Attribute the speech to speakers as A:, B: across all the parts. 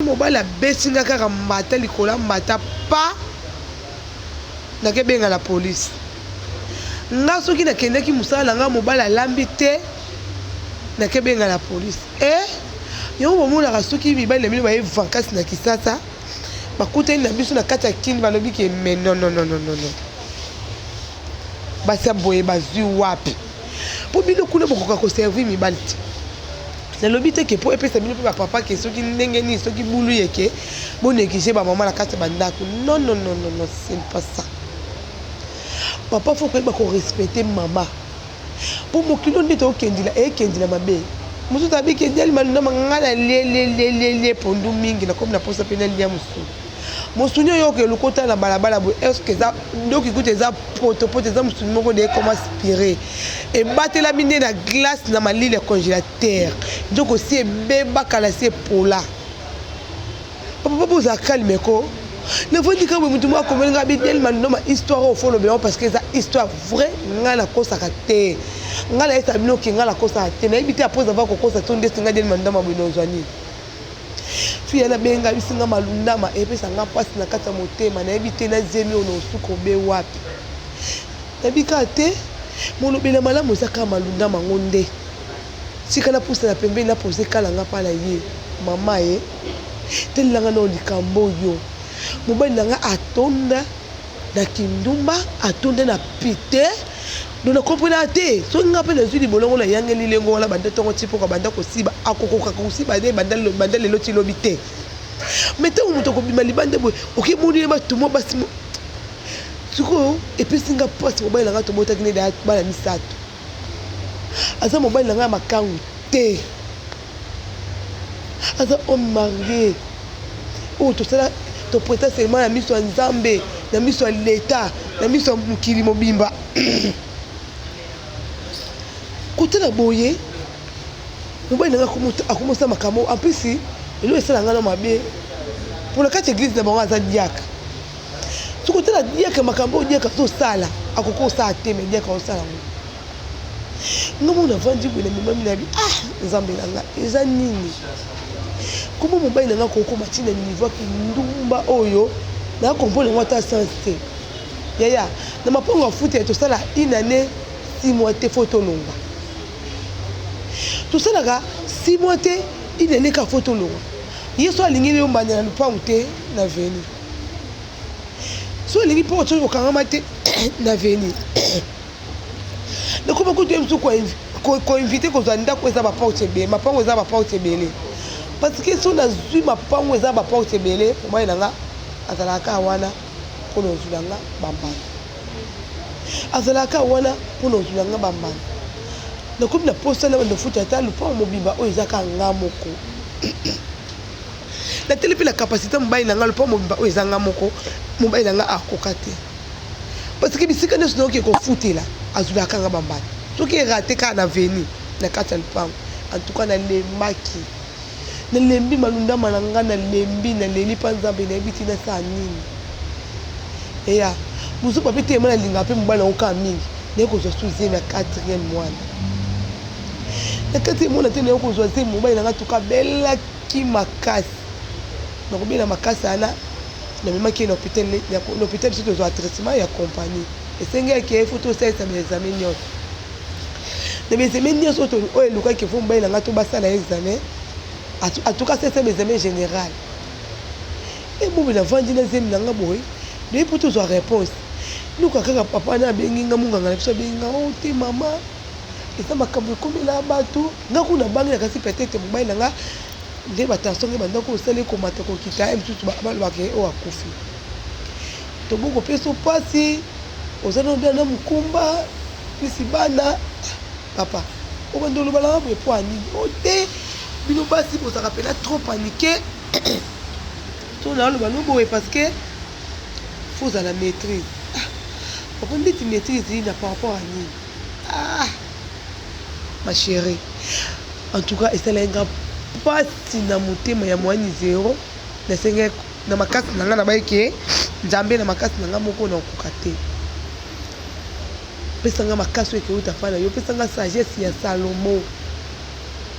A: mobali abeti nga kaka mbata likolo ya mbata pa nakebenga la police nga soki nakendaki mosala na nga mobali alambi te nakebenga la police e eh? yango bomonaka soki mibali na bino baye vankasi na kisasa bakutani na biso na kati ya kini balobi ke me nonnonononono basi ya boye bazwi wapi mpo bino kuna bokoka koservi mibali te nalobi te ke mpo epesa bino mpe bapapa ke soki ndenge nini soki bulu yeke boneglige bamama na kati ya bandako non non non non non c'est pas ça papa fo koyeba korespecte mama mpo mokili oyo nde tokendila ekendila mabe mosusu abiki edyali malunda mangana lelelelele pondu mingi nakomi na mposa mpe nalia mosusu Mosuni oyo oke lokota na balabala boye est-ce que eza ndoki kutu eza poto poto eza mosuni moko de comme aspiré ebatelami nde na glace na malili ya congélateur donc osi ebeba kala si epola papa boza calme ko navandi kaka boye motu moko akomeli ngai bidel mandoma histoire oyo fo lobela parce que eza histoire vrai ngai nakosaka te ngai nayesa bino ke ngai nakosaka te nayebi te apres avoir kokosa to ndesi ngai del mandoma boye nozwa nini Fille wana abengamisi nga malundama epesa nga mpasi na kati ya motema nayebi te na zemi oyo naosuka obe wapi nayebi kaka te molobeli ya malamu eza kaka malundama yango nde tika napusana pembeni napoze kala nga mpa na ye mama ye telelanga nao likambo oyo mobali na nga atonda Na kindumba atonda na pite donc na comprenaka te soki nga pe nazui libolo yango na yangeli lengo wana banda tongo ti poko abanda kosiba akokoka kosiba ne banda lelo ti lobi te mais tango moto akobima libanda boye oke moni ye batu mwa basi sikoyo epesi nga pasi mobali na nga tobotaki ne bana misato aza mobali na ngai ya makangu te aza homme marie oyo tosala topreta selema na miso ya nzambe na miso ya leta na miso ya mokili mobimba kotala boye mobali na ngai akomosala makambo ampesi eloko esala ngai na mabe mpo na kati ya eglize na bango aza diaka Soki otala diaka makambo oyo diaka azosala akoki kosala te me diaka osala ngo nga mona avandi boye na mimami na bi ah nzambe na nga eza nini kombo mobali na nga kokoma ntina niveau kindumba oyo na comprendre yango ata sens te yaya na mapongo afuta ya tosala une année six mois te fo tolonga tosalaka six mois te une année kaka fo tolonga ye so alingeli yo mbanda na lopango te na veni so olingi mpo ocoki kokangama te na veni nakoba kutu ye mosusu koinvite kozwa ndako eza baporte ebele mapango eza baporte ebele parce que so nazwi mapango eza baporte ebele omai na nga azalaka kaka wana mpo na ozwila nga bambanda azalaka kaka wana mpo na ozwila nga bambanda nakomi na mposa na banda ofuta ata lopango mobimba oyo eza kaka nga moko nateli mpe na kapasite mobali na ngai lopo mobimba oyo eza ngai moko mobali na ngai akoka te parceke bisika nyonso nayoki ekofutela azwilaka ngai bambala soki erate kaka na veni na kati ya lopango antuka nalembaki nalembi malundama na ngai nalembi naleli mpa nzambe nayebi ti nasala nini eya mosuku ape te yema nalingaka mpe mobali yango kaka mingi naye kozwa su zemi ya quatrième mwana na kati emona te naye kozwa zemi mobali na ngai tuka belaki ki makasi nako bela makasi wana na memaki ye na hopital na hopital biso tozwa traitement ya compagnie esengi ya ke faut tosalisa ba examen nyonso na ba examen nyonso oyo elukaki faut mobali na ngai to basala examen en tout cas c'est ba examen général e bobi na vandi na zemi na ngai boye naye po tozwa réponse luka kaka papa na abengi nga munganga na biso abengi nga o oh, te mama Eza makambo ekomela batu nga kuna bangi na kasi peut-être mobali na nga nde ba tension nge banda kosala ekomata kokita ye mosusu balobaka ye oyo akufi toboki kopesa mpasi oza na obia na mokumba pisi bana papa obanda oloba nanga boye mpo anini o oh, te bino basi bozalaka mpena trop panike to naoloba no boye parce que fo ozala maîtrise ah, papa ndeti maîtrise na par rapport ya nini ah ma cherie en tout cas esalaki nga pasi na motema ya moani zero nasengai na makasi na nga na baye ke nzambe na makasi na nga moko na okoka te pesa nga makasi oyo ekeuta pa na yo pesa nga sagesse ya salomo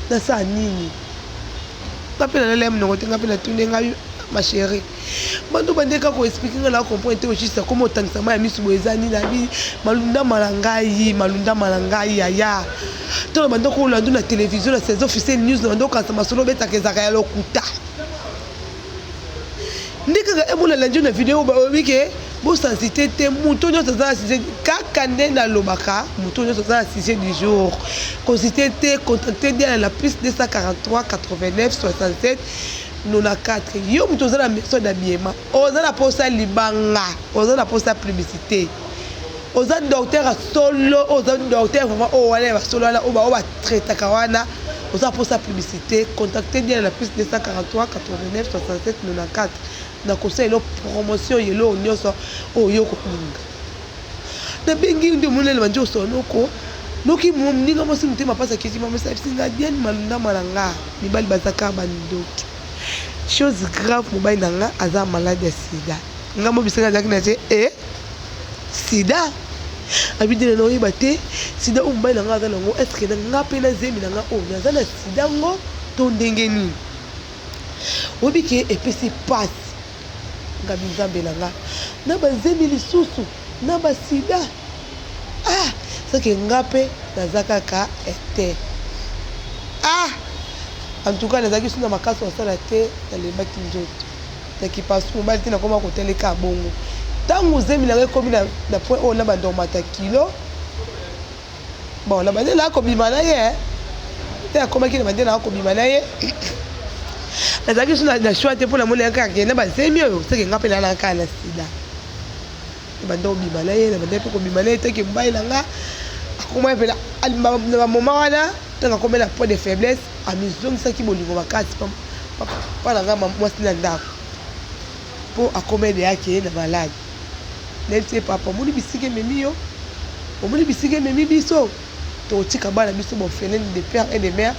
A: nasala nini nga mpe nalela ye monoko te nga mpe natuni nga ma cherie Banda obandaki kaka ko expliquer nga na comprendre te au juste akoma otangisa mai ya misu boye eza nini abi malundama na ngai malundama na ngai yaya to na banda kolandu na television na saison officiel news na banda okanisa masolo obetaka ezaka ya lokuta nde kaka emona landio na video baobi ke bosensite te moto nyonso aza na sujet kaka nde nalobaka moto nyonso aza na sujet du jour konsite te contacte diana na plus 243 89 67 no na quatre yo mutu oza na maison d'habillement oza na posa libanga oza na posa publicité oza docteur ya solo oza docteur vraiment oyo wana ya basolo wana oyo baoyo batraitaka wana oza na posa publicité contacte diana na plus 243 89 67 94 na kosala elo promotion yelo oyo nyonso oyo okolinga Nabengi yo nde omoni nalema nje osola noko noki moninga mwasi motema pasi akiti mama esalisi nga bien malundama na nga mibali baza kaka bandoki chose grave mobali na nga aza malade ya sida nga mobisaka azalaki na te e sida abidela na oyeba te sida oyo mobali na nga aza nango eske na nga mpe na zemi na nga oyo naza na sida ngo to ndenge nini oyebi ke epesi pasi Ngabi nzambe na nga na ba zemi lisusu na ba sida ah ce que nga pe naza kaka ete ah en tout cas nazalaki suna makasi kosala te nalembaki nzoto na kipasi mobali te nakoma koteleka bongo ntango zemi na nga ekomi na point oyo na bandormata kilo Bon, na bande na kobima na ye, te akomaki na bande na kobima na ye. Nazalaki suna na choix te mpo na mona yaka akende na bazemi oyo seke nga mpe na naka na sida. Na bande kobima na ye, na bande mpe kobima na ye te ke mobali na nga akomaki mpe na ba moment wana ntango akomi na point de faiblesse amizongisaki bolingo makasi mpo na nga mwasi na ndako. Po akoma ede ake ye na malade nel tse papa omoni bisika ememi yo omoni bisika ememi biso tokotika bana biso ba ofelene de père et de mère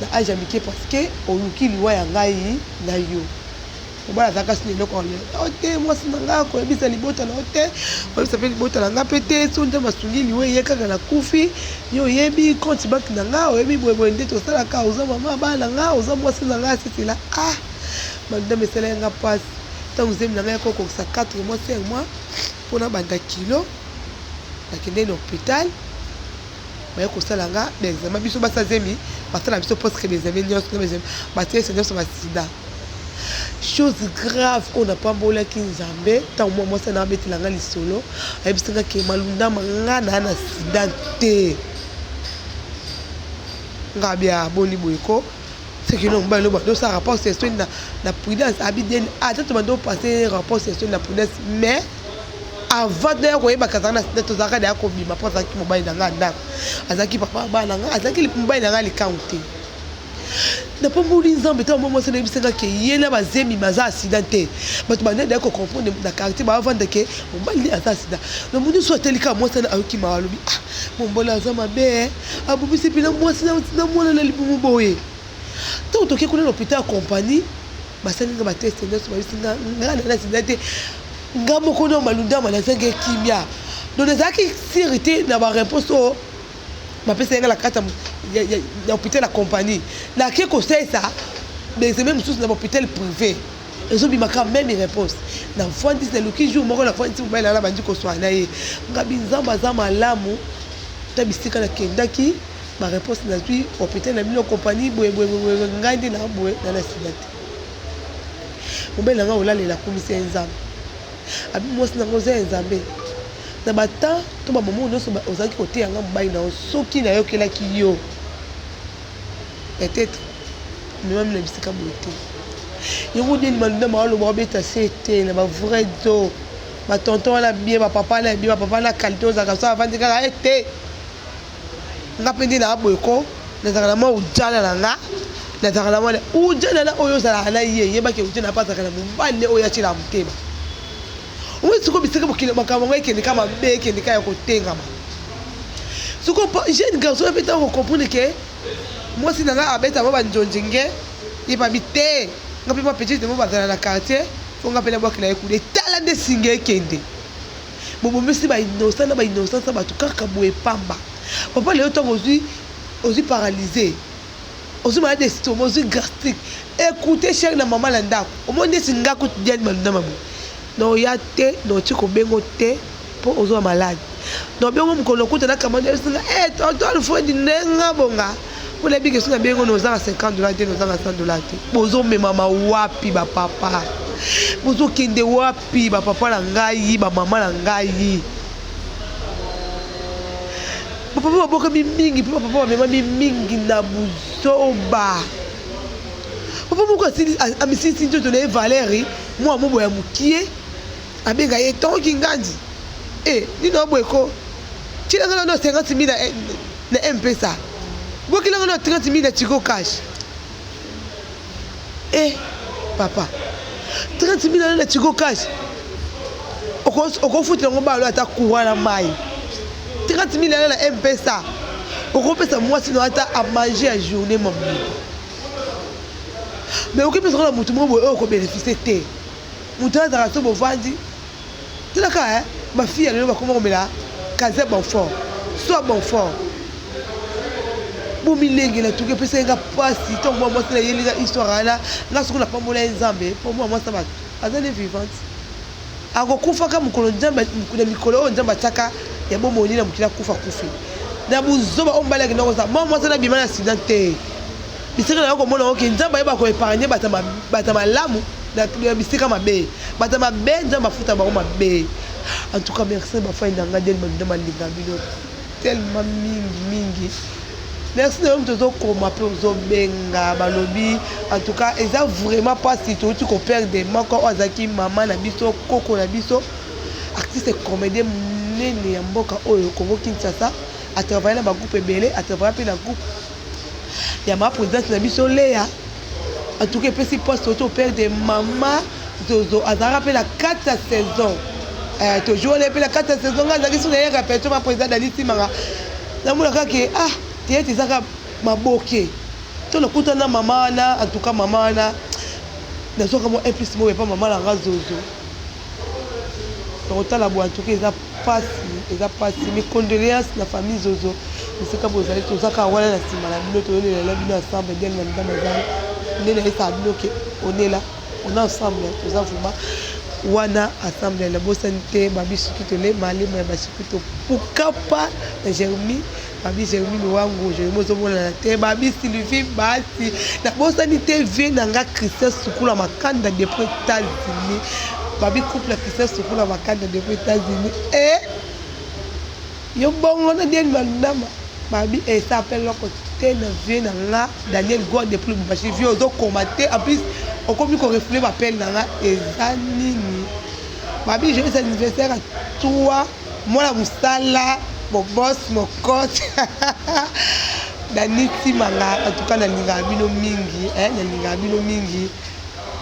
A: na age ya mike parce que oluki liwa ya ngai na yo mobali azalaka sina eloko ya lelo nao te mwasi na ngai akoyebisa libota na yo te oyebisa mpe libota na ngai mpe te so nzambe asungi liwa eye kaka na kufi yo oyebi compte banke na ngai oyebi boyeboye nde tosalaka oza mama bana na ngai oza mwasi na ngai asisila ah Madame esalaki nga pasi ntango zemi na ngai yako kokisa 4 mois 5 mois mpo nabanda kilo nakendeki na hopital baye kosala nga baexame biso basa zemi basala biso presque baexame nyonso batiesa nyonso basida chose grave oyo napambolaki nzambe ntango mwa mwasi na abetela nga lisolo ayebisi nga ke malundama nga naa na sida te nga bia boni boye ko Ce que l'on balo bando sa rapport c'est sur la la prudence abiden ah tu bando passer rapport c'est sur la prudence mais avant de ko yeba kazana na site tozaka da ko bima pour ça ki mobile na nga ndako azaki papa bana nga azaki mobile na nga likangu te napamboli nzambe ntango mwa mwasi nayebisaka ke ye na bazemi baza asida te bato banende ya kocomprendre na quartier baavanda ke mobali nde aza asida na moni so ateli kaka mwasi ana ayoki mawa alobi ah mombola aza mabe Abomisi epi na mwasi na mwana na libumu boye. Ntango toke kuna na lopital ya kompani, basali nga bateste nyonso, babisi nga nga na sida te. Nga moko na malundama nazangi kimia, donc nazalaki sire te na bareponse oyo bapesaki nga na kati ya hopital ya kompani. Nake kosalisa baexame mosusu na bahopital prive. ezo bima ka meme reponse na fwandisi na luki jour moko na fwandisi mobali na na bandi koswana na ye ngabi nzambe aza malamu ta bisika na kendaki ba reponse na zui hôpital na bino compagnie boye boye boye ngai nde na boye na na sida te mobali na ngai olalela akumisa ye nzambe abi mwasi na ngai oza ya nzambe na batemp to bamomo nyonso ozalaki koteya ngai mobali na yo soki nayokelaki yo Peut etre omemami na bisika boye te yango nini malinda maaloba obeta se te na ba vrai do ba tonton wana bien ba papa na bien ba papa na qualité ozalaka so avandi kaka e te nga mpe nde naa boye ko nazalaka na mwa ujana na nga nazalaka na mwana ujana na oyo ozalaka na ye yebaki ujana mpe azalaka na mobali ne oyo atyela motema oyo sikoyo bisika mokili makambo yango ekende ka mabe ekende ka ya kotengama sikoyo jeune garçon ape ntango kocomprendre ke Mwasi na nga abeta mwa ba njonji nge ye ba bi te nga mpe mwa petite na mwa bazala na quartier mpo nga mpe na bwakela ye kule tala nde singa ekende bobomisi ba innocent na ba innocence ya bato kaka boye pamba papa lelo ntango ozwi ozwi paralyse ozwi malade ya estoma ozwi gastrique ekoute chere na mama na ndako omoni nde singa kutu diani maluna maboye Non oya te non ti kobengo te po ozo malade non bengo mukolo lokuta na kamua nde singa eh tonton Alfred nde nga bonga po nayebi que soki na bengo noza na 50 dollars te noza na 100 dollars te bozo memama wapi ba papa bozo kende wapi ba papa na ngai ba mama na ngai ba papa babokami mingi pe ba papa bamemami mingi na buzoba papa moko asili amisilisi nzoto na ye valeri Mua mobo ya mukie abenga ye tongo kingandi eh nini oyo boye ko tiela nga nano 50 mille na, eh, na mpesa bokila nga nano 30 mille na tigo cash eh papa 30 mille nano na tigo cash okofutela yango balo ata courant na mai 30 mille nano na mpesa okopesa mwasi no ata amange ya journée mamu mais okoki mpe sokola motu moko boye oyo okobenefise te motu oyo azalaka so bovandi talaka eh, bafi ya lelo bakoma komela kaze bonfort soi bonfort bomilenge na tuki epesaki nga mpasi ntango mwa mwasi na yeli nga histoire wana nga soki napambola ye nzambe mpo mwa mwasi na bato azali vivante Akokufaka mokolo Nzambe, na mikolo oyo Nzambe atiaka ya bomoi ne na mokili, akufa akufi na buzoba oyo mobali akendaki kosala. Mwa mwasi wana abima na accident te, bisika nayo komona yango ke Nzambe ayeba ko epargne bato ya bato ya malamu na bisika mabe, bato ya mabe Nzambe afuta bango mabe. En tout cas merci na ba fans na nga Daniel Maluda malinga bino. tellement mingi mingi merci nayo moto ozokoma mpe ozobenga balobi en tout cas eza vraiment mpasi touti koperde moko oyo azalaki mama na biso koko na biso artiste comédien monene ya mboka oyo congo kinshasa atravaille na bagroupe ebele atravaille mpe na groupe Ya ma presidente na biso Lea en tout cas epesi poste auto au père de maman Zozo azalaka mpe na 4 ya saison eh, tojour wana mpe na 4 ya saison ngai azalaki so nayaka peto ma president Dani Timanga namona kaka ke ah teyete ezaka maboke to nakuta na mama wana en tout cas mama wana nazwaka mwa un plus moyo epa mama na nga Zozo nakotala boye en tout cas eza Pasi eza pasi mes condoleances na famille zozo esika bozali toza kaka wana na nsima na bino toyolelela bino ensemble ndenge na mitama ezali nde nayesaka bino ke onela on ensemble toza vrema wana ensemble na bosani te babi sukito le malema ya basukito pukapa na jeremi Babi Germine wangu je bozo monana te babi Sylvie basi na bosani te vie na nga Christian Sukula Makanda depuis Etats-Unis babi couple Christian Sukula Makanda depuis Etats-Unis eh yo bongo na Daniel Mandama babi esa eh, pe loko te na vie na nga Daniel Gwa depuis Lubumbashi vie ozo koma te en plus okomi ko refouler ba appel na nga eza nini babi joyeux anniversaire à toi Mwana musala bo boss mokot Danny timanga en tout cas nalingaka bino mingi hein nalingaka bino mingi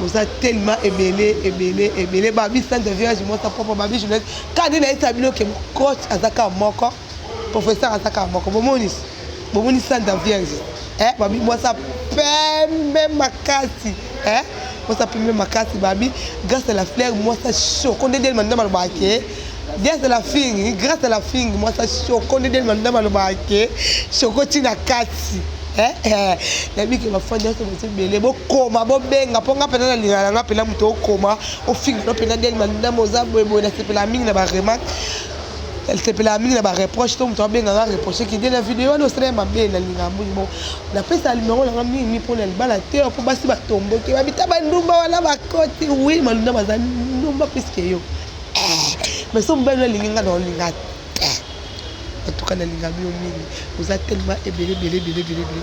A: boza tellement ebele ebele ebele babi centre village mwasa propre babi journaliste kaka nde nayebisa bino ke coach aza kaka moko professeur aza kaka moko bomoni bomoni santa vierge eh, babi mwasi ya pembe makasi eh, mwasi ya pembe makasi babi grâce à la fleur mwasi ya shoko nde deli mandondo balobaka ke grâce à la fingi grâce à la fingi mwasi ya shoko nde deli mandondo balobaka ke shoko ntina kati eh, eh. nayebi ke bafandi nyonso baza ebele bokoma bobenga mpo nga mpenza nalingaka na nga mpenza moto okoma ofinga no mpenza deli mandondo oza boyeboye nasepelaka mingi na baremarke nasepelaka mingi na ba reproche to moto abenga nga reproche kende na video wana osala ya mabe na linga mbongi bo napesa numero na nga mingi mpo na libala te mpo basi batomboki babita bandumba wana bakoti wi malunda baza ndumba piske yo eh, mais so mobali nalingi nga na olinga te en tout cas nalingami yo mingi oza tellement ebele ebele ebele ebele